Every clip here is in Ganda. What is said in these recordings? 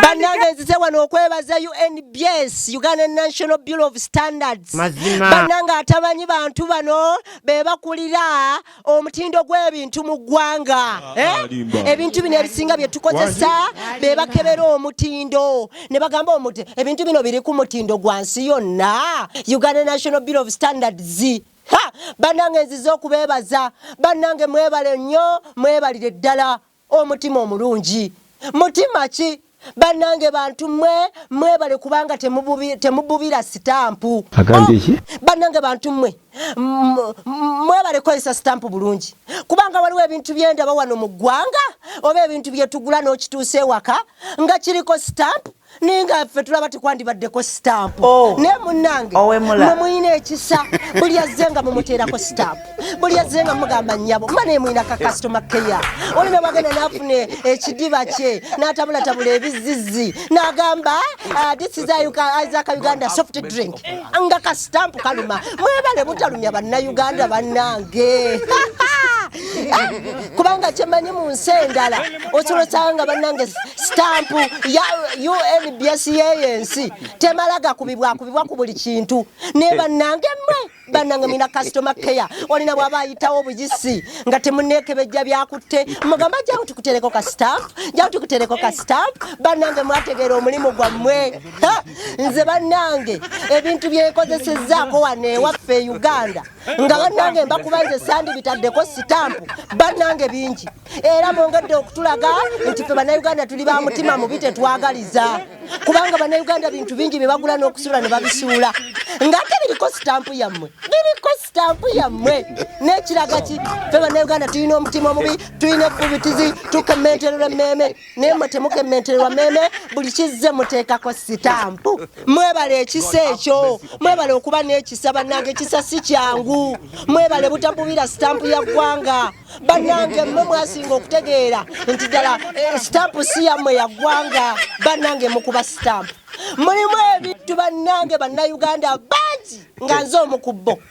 banange nzize wano okwebaza unbs uganda national bureau of standards banange atamanyi bantu bano bebakulira omutindo gw'ebintu mu ggwanga ah, eh? ah, ebintu bino ebisinga byetukozesa bebakebera omutindo ne bagamba omuti ebintu bino biri ku mutindo gwa nsi yonna uganda national bureau of standards banange nzize okubebaza banange mwebale nnyo mwebalire ddala Omutima omulungi mutima ki? Banange bantu mwe mwebale kubanga temububira sitampu banange bantu mwe mwebale kozesa sitampu bulungi kubanga waliwo ebintu byendaba wano mu ggwanga oba ebintu byetugula n'okituusa ewaka nga kiriko sitampu naye nga ffe tulaba tekwandibaddeko sitampu oh. naye munange mwe mulina ekisa buli azze nga mumuteerako sitampu buli azze nga mugamba nyabo mba naye mulina ka kasitoma keya oli newagenda nafuna ekidiba kye natabulatabula ebizizi nagamba ah, this is isaac uganda soft drink nga ka sitampu kaluma mwebale butalumya bannayuganda bannange kubanga kyemanyi mu nsi endala osobola osanga nga bannange sitampu ya unbs yeyo ensi temala gakubibwakubibwa ku buli kintu naye bannange mwe bannange mina customer care olina bwaba ayitawo obuyisi nga temuneekebejja byakutte mugamba jawo tukutereko ka sitampu jawo tukutereko ka sitampu bannange mwategeera omulimu gwammwe nze bannange ebintu byenkozesezzaako wano ewaffe e uganda nga bannange mbakuba nze sandibitaddeko sitampu bannange bingi era mwongedde okutulaga nti fe bannayuganda tuli ba mutima mubi tetwagaliza kubanga bannayuganda bintu bingi bye bagula n'okusuula ne babisuula ng'ate biriko sitampu yammwe biriko sitampu yammwe n'ekiraga ki fe bannayuganda tulina omutima omubi tulina efubitizi tukementerera emmeeme naye mwe temukementererwa meme buli kizze muteekako sitampu mwebale ekisa ekyo mwebale okuba n'ekisa bannange ekisa si kyangu mwebale butabubira sitampu ya ggwanga bannange mmwe mwasinga okutegeera nti ddala eh, sitampu si yammwe ya ggwanga bannange mukuba sitampu mulimu ebintu bannange bannayuganda bangi nga nze omu ku bo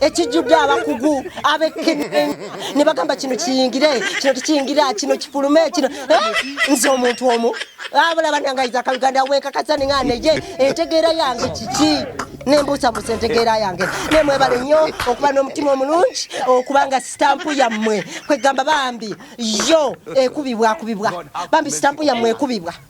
ekijjudde abakugu abekkenenya ne bagamba kino kiyingire kino tekiyingira kino kifulume kino eh, nze omuntu omu abulaba nangayiza akaluganda wenkakasa ninga neye entegeera yange kiki nembuusa mbusa entegeera yange nemwebale nnyo okuba n'omutima omulungi okuba nga sitampu yammwe kwegamba bambi yo ekubibwakubibwa bambi sitampu yammwe ekubibwa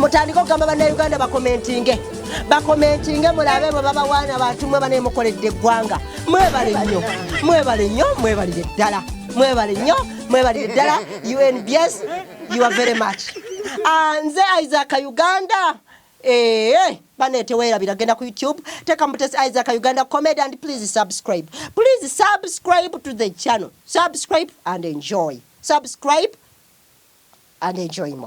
mutandike okugamba bannayuganda bakomentinge bakomentinge mulabe bwe babawaana bantu mwe banaye mukoledde eggwanga mwebale nnyo mwebale nnyo mwebalire ddala mwebale nnyo mwebalire ddala unbs you are very much ah, nze isaac uganda ee eh, bane tewerabira genda ku youtube teka mutesi isaac uganda comedy and please subscribe please subscribe to the channel subscribe and enjoy subscribe and enjoy more